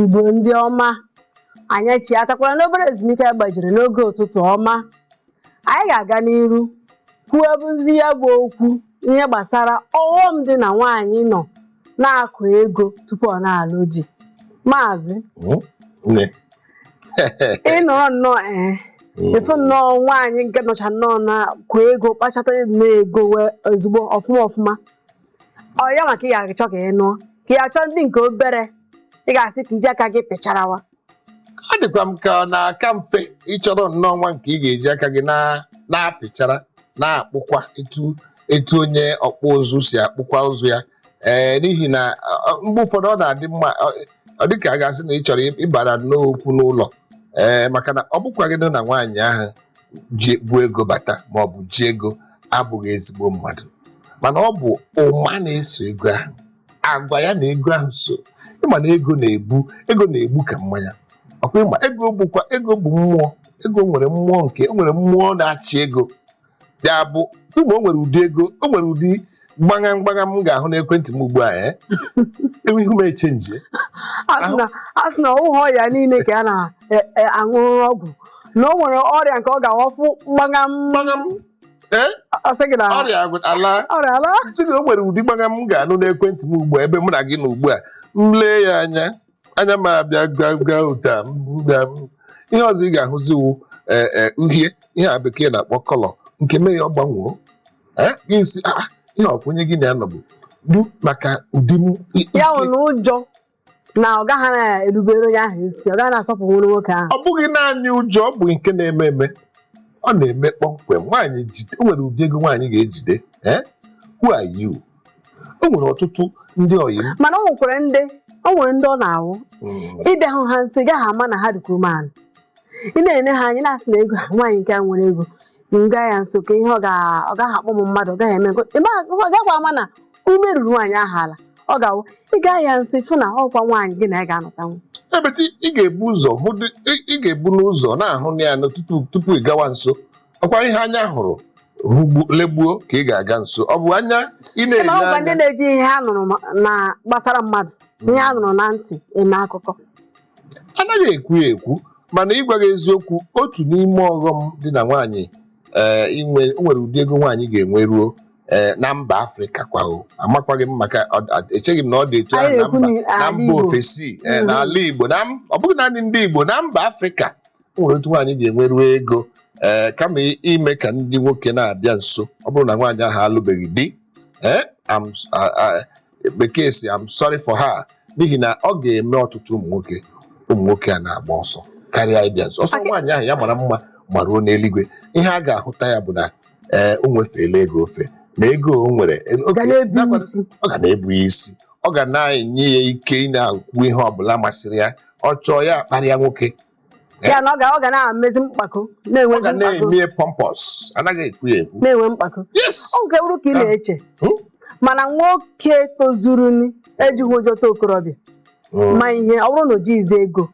igbo ndị ọma anyị chịghatakwara n'obere ezumike gbajiri n'oge ụtụtụ ọma anyị ga-aga n'iru kwuo bụzi ya bụ okwu ihe gbasara ọghọm dị na nwaanyị nọ na-akụ ego tupu ọ na-alụ di maazị Nne, ị nọrọ nnọọ ee ị fụ nnọọ nwaanyị nke nọcha nnọọ na-akụ ego kpachata nnọọ ego ezigbo ọfụma ọfụma ọ ya maka ị ga-achọ ka ị nụọ ka ị ga-achọ ndị nke obere ị ga-asị ka i ji aka gị pịcharawa ọ dịkwa m ka ọ na-aka mfe ị chọrọ nnọọ nwa nke ị ga-eji aka gị na- na-apịchara na-akpụkwa etu etu onye ọkpụ ụzụ si akpụkwa ụzụ ya ee n'ihi na ọ, mgbe ụfọdụ ọ na-adị mma ọ- ọ dị ka a ga-asị na ị chọrọ ịbara n'okwu n'ụlọ ee maka na ọ bụkwaghị na nwaanyị ahụ ji bu ego bata ma ọ bụ ji ego abụghị ezigbo mmadụ mana ọ bụ ụma na-eso ego ahụ agwa ya na ego ahụ so ị ma na ego na-ebu ego na-egbu ka mmanya ọ kwa ị ma ego bụkwa ego bụ mmụọ ego nwere mmụọ nke o nwere mmụọ na-achị ego ya bụ ụmụ o nwere ụdị ego o nwere ụdị gbagam gbagam m ga-ahụ n'ekwentị m ugbu a eh? ihu m echange a sị na- a sị na ọ họ ọya niile ka a na-aṅụ ọgwụ na o nwere ọrịa nke ọ ga-awụ a fụ gbagam gbagam eh? a sị gị na ọrịa agwụ- alaa ọrịa alaa sị na o nwere ụdị gbagam m ga-anụ n'ekwentị m ugbu a ebe mụ na gị nọ ugbu a m lee ya anya anya m abịa bịa bịa ụda m bịa m ihe ọzọ ị ga-ahụzi wụ ee ee uhie ihe a bekee na-akpọ colour nke mee ya ọ gbanwoo ee ị sị ah ah, ihe ọ kwa onye gị na ya nọbu du maka ụdị m i- ya ike. nwere na ụjọ na ọ gaghị na-erubere onye ahụ isi ọ gaghị na-asọpụrụ nwoke ahụ ọ bụghị naanị ụjọ ọ bụ nke na-eme eme ọ na-eme kpọmkwem nwaanyị jide o nwere ụdị ego nwaanyị ga-ejide eh? who are you o nwere ọtụtụ ndị ọyị m mana o nwekwara ndị o nwere ndị ọ na-awụ Mm, ị bịa hụ ha nso ị gaghị ama na ha dịkwa umeala ị na-ene ha anya na-asị na ego a, nwaanyị nke a nwere ego m gaa ya nso ka ihe ọ ga- ọ gaghị akpọ m mmadụ ọ gaghị eme nke- ị ma- ọ gaghị ama na ume ruru nwaanyị ahụ ala ọ ga-awụ ị gaa ya nso ị fụ na ọ kwa nwaanyị gị na ya ga-anọtanwu ebete ị ga-ebu ụzọ hụ dị- ị- ị ga-ebu n'ụzọ na-ahụ ya nụ tupu tupu ị gawa nso ọ kwa ihe anya hụrụ hụgbu- legbuo ka ị ga-aga nso ọ bụ anya ị Ị ma na-ele ọ kwa ndị anya na-eji ihe ha nụrụ ma- na gbasara mmadụ ihe ha nụrụ na ntị eme akụkọ anaghị ekwu ya ekwu mana ịgwa gị eziokwu otu n'ime ọghọm dị na nwaanyị ee, inwe o nwere ụdị ego nwaanyị ga-enwe ruo ee, na mba afrịka kwa o amakwaghị m maka ọ- a- echeghị m na ọ dị etu ahụ anyị na na-ekwu mba na na ala mba Igbo ofesi ee, Mm. n'ala igbo na m- ọ bụghị naanị ndị igbo na mba afrịka o nwere otu nwaanyị ga-enweru ego ee kama i- ime ka ndị nwoke na-abịa nso ọ bụrụ na nwaanyị ahụ alụbeghị di ee I'm- a- a- bekee sị I'm sorry for her n'ihi na ọ ga-eme ọtụtụ ụmụ nwoke ụmụ nwoke a na-agba ọsọ karịa ịbịa nso ọsọ Ọ dị- nwaanyị ahụ ya mara mma ma ruo n'eluigwe ihe a ga-ahụta ya bụ na ee o nwefeela ego ofe na ego o nwere e- oke, ga na-ebu na-agbado- isi ọ ga na-ebu ya isi ọ ga na-enye ya ike ị na-ekwu ihe ọbụla masịrị ya ọ chọọ ya akparịa nwoke ya na ọ ga ọ ga na-emezi mkpako na-enwe ga na-eme pompous anaghị ekwu ya ekwu na-enwe mkpako o nwere ike bụrụ ka ị na-eche hmm? mana nwoke tozuru ejighị ụjọ ta okorobịa hmm. ma ihe ọ bụrụ na o jighịzi ego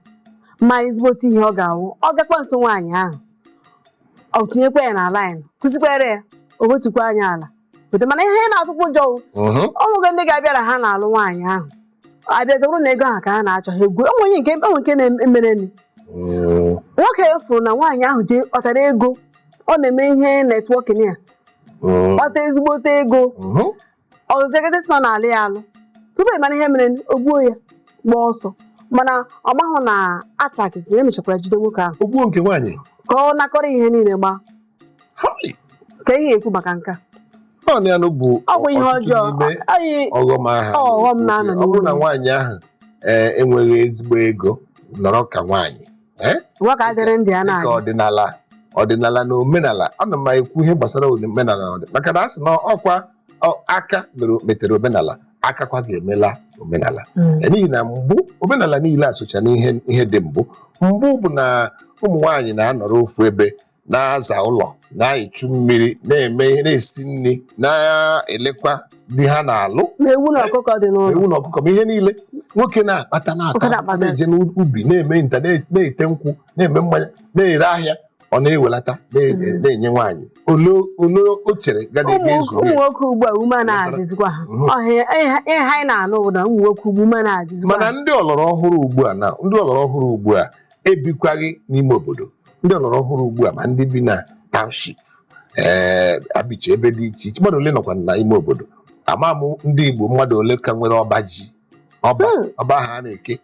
ma ezigbote ihe ọ ga-awụ ọ gakwa nso nwaanyị ahụ ọ tinyekwa ya na line kụzikwere ya o wetukwa anya ala mana ihe na-atụkwa ụjọ o nwego hmm. ndị ga-abịara ha na-alụ nwaanyị ahụ abịazi bụrụ na ego ahụ ka ha na-achọ ha egwu enwe onye nke o nwe nke mereni Mm, nwoke fụrụ na nwaanyị ahụ jee kpatara ego ọ na-eme ihe networking ya mm, kpata ezigbote ego mhm. ọ zọ gazie sị na ọ na-alụ ya alụ tupu ị mara ihe mere o gbuo ya gba ọsọ mana ọ mahụ na atrakịsị emechakwara jide nwoke ahụ O gbuo nke nwaanyị ka ọ nakọrọ ihe niile gbaa ka ihe ekwu maka nke a naanị anụ bụ ọ bụ ihe ọjọọ ọghọm ahụ ọghọm na-anọ ọ bụrụ na nwaanyị ahụ eh, enweghị ezigbo ego nọrọ ka nwaanyị eh? nwoke adịrị ndị a na-aga ọdịnala ọdịnala na omenala ana m ekwu ihe gbasara omenala na maka na a sị na ọ kwa aka metere omenala aka kwa ga-emela omenala hmm. eh, n'ihi na mbụ omenala niile asocha n'ihe dị mbụ mbụ bụ na ụmụ nwaanyị na-anọrọ ofu ebe na-aza ụlọ na-echu mmiri na-eme ihe na-esi nri na-elekwa di ha na-alụ ma ewu na ọkụkọ dị n'ụlọ ewu na ọkụkọ ma ihe niile nwoke na-akpata Nwoke na-ata na-akpata. na-eje n'ubi na-eme nta na- na-ete nkwụ na-eme mmanya na-ere ahịa ọ na-ewelata na- Mm. na-enye nwaanyị ole ole o chere ga na ụmụ ebe ezu ụmụ nwoke ugbu a ume na-adịzikwa ha Mhm. ọhịa ihe ihe anyị na-anụ bụ na ụmụ nwoke ugbu ume na-adịzikwa mana ha ndị ọlọrọ ọhụrụ ugbu a na ndị ọlọrọ ọhụrụ ugbu a ebikwaghị n'ime obodo ndị ọlọrọ ọhụrụ ugbu a ma ndị bi na township ee eh, ha bicha ebe dị iche iche mmadụ ole nọkwa na ime obodo ama m ndị Igbo mmadụ ole ka nwere ọba ji ọba hmm. ọba ha na-eke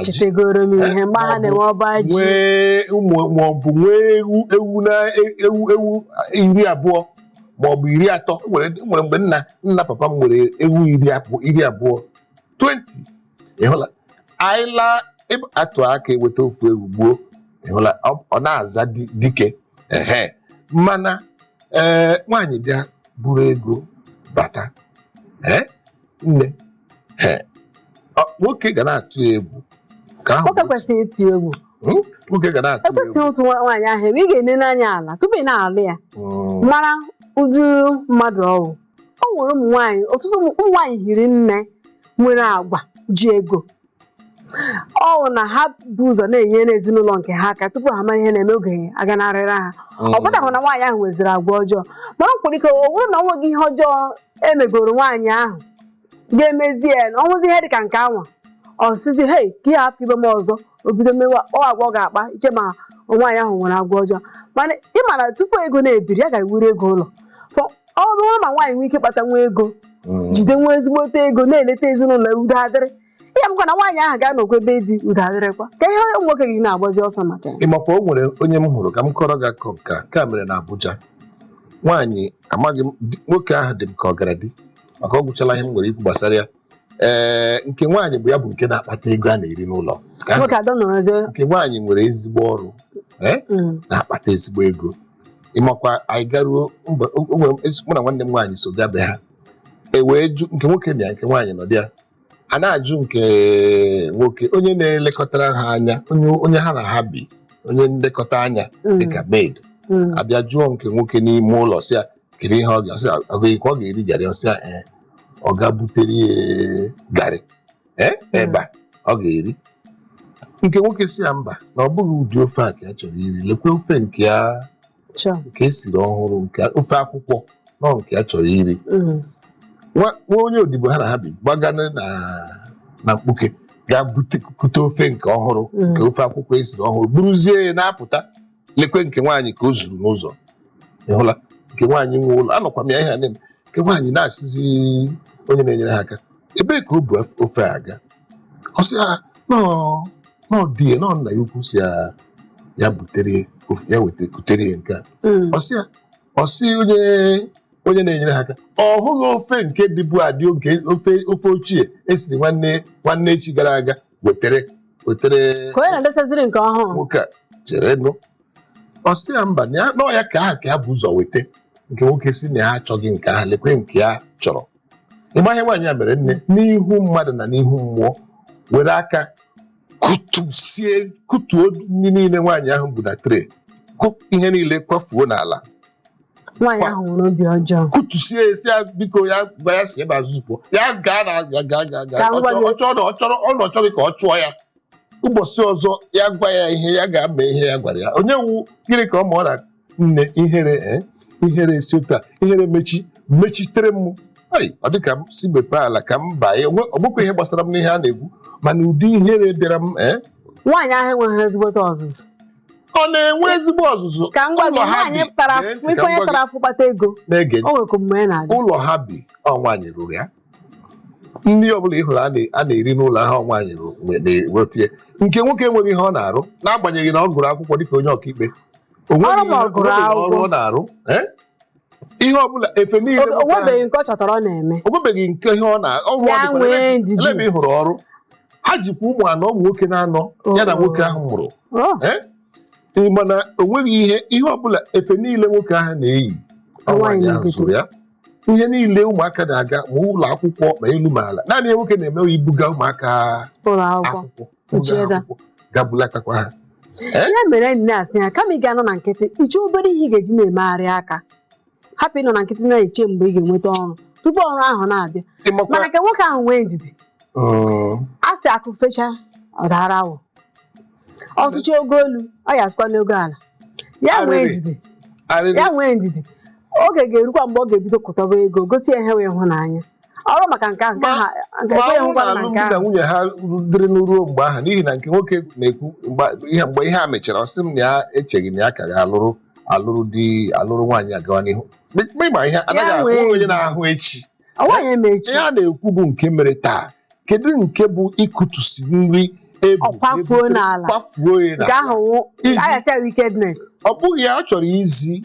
chetegoro m ihe mgbe ha na-enwe ọba ji nwee ụmụ maọbụ nwee ewu ewu na e, ewu ewu iri abụọ maọbụ iri atọ nwere mgbe nna nna papa m nwere ewu iri abụọ 20 ịhụla anyị laa atụ aka eweta ofu ewu gbuo ịhụla ọ na-aza dike ehe mana ee nwaanyị bịa buru ego bata ee nne ee nwoke ga na-atụ egwu ka ahụ nwoke kwesịrị ịtụ egwu hmm? nwoke ga na-atụ egwu ekwesịghị otu nwaanyị ahụ ị ga-ene n'anya ala tupu ị na-alụ ya hmm. mara ụdị mmadụ ọ wụ o nwere ụmụ nwaanyị ọtụtụ ụmụ ụmụ nwaanyị hiri nne nwere agwa ji ego ọ bụ na ha bu ụzọ na-enyere ezinụlọ nke ha aka tupu ha mara ihe na-eme oge aganarịra ha ọ pụtaghị na nwaanyị ahụ nweziri agwa ọjọọ mana o nwere ike ọ bụrụ na ọ nweghị ihe ọjọọ emegoro nwaanyị ahụ ga-emezi ya na ọ wụzi ihe dị ka nke anwa ọ sịzi hei ka ya hapụ ime m ọzọ o bido mewa ọ agwa ọ ga-akpa iche ma nwaanyị ahụ nwere agwa ọjọọ mana ị ma na tupu ego na-ebiri ya ga-ewuru ego ụlọ Fọ- ọ bụrụ ma nwaanyị nwee ike kpata nwa ego mm. jide nwa ezigbote ego na-eleta ezinụlọ ya udo adịrị ihe bụkwa na nwaanyị ahụ ga-anọkwa be di udo adịrịkwa ka ihe onye nwoke ga na-agbazi ọsọ maka ya ịmakwa o nwere onye m hụrụ ka m kọọrọ gị akụkọ nke a nke a mere na Abuja nwaanyị amaghị m di- nwoke ahụ dị m ka ọ gara di maka ọ gwụchala ihe m nwere ikwu gbasara ya ee nke nwaanyị bụ ya bụ nke na-akpata ego a na-eri n'ụlọ Nke ahụ- nwoke adọ nọrọzie nke nwaanyị nwere ezigbo ọrụ ee Mm. na-akpata ezigbo ego ịmakwa anyị garuo mba o- o nwere ezi- mụ na nwanne m nwaanyị so gaa be ha e wee jụ nke nwoke na ya nke nwaanyị nọ dị ya a na-ajụ nke nwoke onye na-elekọtara ha anya onye onye ha na ha bi onye nlekọta anya Mm. dịka maid Mm. abịa jụọ nke nwoke n'ime ụlọ si ya kedu ihe ọ ga-asị agụghị ka ọ ga-eri garị ọ sị ya ee ọ ga butere ya garị ee eba ọ ga-eri nke nwoke si ya mba na ọ bụghị ụdị ofe a ka ya chọrọ iri lekwe ofe nke ya Chọ. nke esiri ọhụrụ nke ofe akwụkwọ nọ nke ya chọrọ iri Mm. nwa nwa onye odibo ha na ha bi gbaga na na mkpuke gaa bute kute ofe nke ọhụrụ Mm. nke ofe akwụkwọ esiri ọhụrụ buruzie ya na-apụta lekwe nke nwaanyị ka o zuru n'ụzọ ị hụla nke nwaanyị nwe ụlọ anọkwa m ya ihe a na-eme nke nwaanyị na-asịzi onye na-enyere ha aka ebee ka o bu af- ofe a aga ọ sị ya n'ọọ n'ọọ di ya n'ọọ nna ya ukwu si ya ya butere ya ofe ya weta kutere ya nke a Mm. ọ sị ya ọ sị onye onye na-enyere ha aka ọ hụghị ofe nke dịbu adị oge ofe ofe ochie esiri nwanne nwanne echi gara aga wetere wetere ka onye na-edesaziri nke ọhụrụ nwoke a chere nụ ọ sị ya mba na ya n'ọọ ya nke ahụ ka ya bu ụzọ weta nke nwoke si na ya achọghị nke ahụ lekwe nke ya chọrọ ị ma ihe nwaanyị a mere nne n'ihu mmadụ na n'ihu mmụọ were aka kụtusie kụtuo nri niile nwaanyị ahụ bu na tray kụ ihe niile kwafuo n'ala nwaanyị ahụ were obi ọjọọ kụtusie ya sị ya biko ya gwa ya si ebe a zọpụ ya gaa na ya gaa gaa gaa Ka m gwa gị. ọ chọrọ ọ chọrọ ọ na ọ chọghị ka ọ chụọ ya ụbọchị ọzọ ya gwa ya ihe ya ga-eme ihe ya gwara ya onye wu gịnị ka ọ ma ọ na nne ihere eh, ihere esi otu a ihere mechi mechitere m Ai, ọ dị ka m si mepee ala ka m baa ya Onwe- ọ bụkwa ihe gbasara m n'ihe a na-ekwu mana ụdị ihere bịara m eh, nwaanyị ahụ enweghị ezigbote ọzụzụ ọ na-enwe ezigbo ọzụzụ ka m gwa gị ụlọ ha nwaanyị bi- tara Gee afụ ntị ife ka m onye gwa gị. tara afụ kpata ego na-ege o ntị nwere ka mgbe ya na-aga ụlọ ha bi ọ nwaanyị rụrụ ya nri ọbụla ị hụrụ a na- a na-eri n'ụlọ ahụ ọ nwaanyị rụrụ nwe- na-ewete nke nwoke enweghị ihe ọ na-arụ n'agbanyeghị na ọ gụrụ akwụkwọ dịka onye ọkaikpe o nweghị Ọrụ ma ọ ihe- gụrụ o nweghị ọrụ akwụkwọ. ọ na-arụ Eh? ihe ọbụla efe niile O- nwoke ahụ- onwebeghị nke ọ chọtara ọ na-eme o nwebeghị nke ihe ọ na-arụ Ya dịkwa nwee n'ebe- ndidi. n'ebe ị hụrụ ọrụ ha jikwa ụmụ anọ ụmụ nwoke na-anọ ya na Oh. nwoke ahụ mụrụ Oh, Eh? Ị ma na o nweghị ihe ihe ọbụla efe niile nwoke ahụ na-eyi ọ Nwaanyị nwaanyị ahụ na-egote. zụrụ ya ihe niile ụmụaka na-aga ma ụlọ akwụkwọ ma elu ma ala naanị ihe nwoke na-eme ibuga ụmụaka ụlọ akwụkwọ akwụkwọ kpuchie ebe a. gaa bulatakwa ha ya mere anyị na-asị ya kama ị ga-anọ na nkịtị iche obere ihe ị ga-eji na-emegharị aka hapụ ịnọ na nkịtị na-eche mgbe ị ga-enweta ọrụ tupu ọrụ ahụ na-abịa ịmakwa mana ka nwoke ahụ nwee ndidi Mm, a sị akụ fechaa ọ daara awọ ọ sụcha ogo elu ọ ya asụkwa n'ogo ala ya nwee Arịrị. ndidi arịrị ya nwee ndidi oge ga-erukwa mgbe ọ ga-ebido kpataba ego gosi ya ihe wụ ịhụnanya ọ wụrụ maka nke a nke Ma- aha nke ma ekweghị ọ bụrụ ngwa na na nke alụmdi na ahụ nwunye ha dịrị ruo mgbe ahụ n'ihi na nke nwoke na-ekwu mgbe- ihe mgbe ihe a mechara ọ sị m na ya echeghị na ya ka ga-alụrụ alụrụ di alụrụ nwaanyị agawa n'ihu Ma ịma ihe anaghị ahụ nwee onye na-ahụ echi nwaanyị eme echi ihe a na-ekwu bụ nke mere taa kedu nke bụ ịkụtusi nri ebu Ọ kwafuo ebutere- n'ala. kwafuo ya nke n'ala. ahụ wụ Iji- ayasị ya wickedness ọ bụghị ya ọ chọrọ izi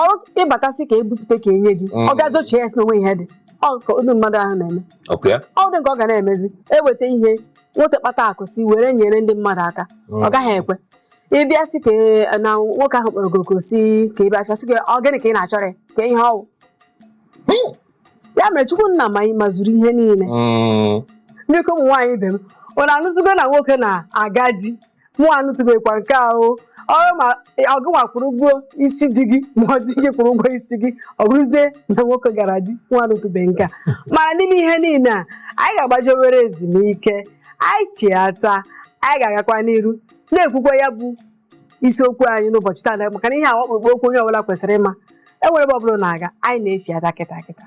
ọrụ ịbatasị ka ebupụta ka enye gị ọ gazi eche ya sị na o nwe ihe dị ọ ka ụdị mmadụ ahụ na-eme ọkụ ya ọ dị nke ọ ga na-emezi eweta ihe nweta kpata akụ si were nyere ndị mmadụ aka ọ gaghị ekwe ị bịa sị ka e- na nwoke ahụ kpọrọ gị oku sị ka ị bịa afịa sị gị ọ gịnị ka ị na-achọrọ ya ka ihe ọ wụ ya mere chukwu nna ma anyị mazuru ihe niile Mm. biko ụmụ nwaanyị ibe m unu anụzigo na nwoke na-aga di mụ anụtụbekwa nke ahụ ọ wụrụ ma ọ gịnwa kwụrụ ụgwọ isi di gị ma ọ di gị kwụrụ ụgwọ isi gị ọ bụrụzie na nwoke gara di mụ anụtụbe nke a mana n'ime ihe niile a anyị ga-agbaje obere ezumike anyị chiata anyị ga-agakwa n'iru na-ekwukwa ya bụ isiokwu anyị n'ụbọchị taa maka na ihe a ọkpụrụkpụ okwu onye ọbụla kwesịrị ịma enwela ebe ọbụla na-aga anyị na-echiata kịta kịta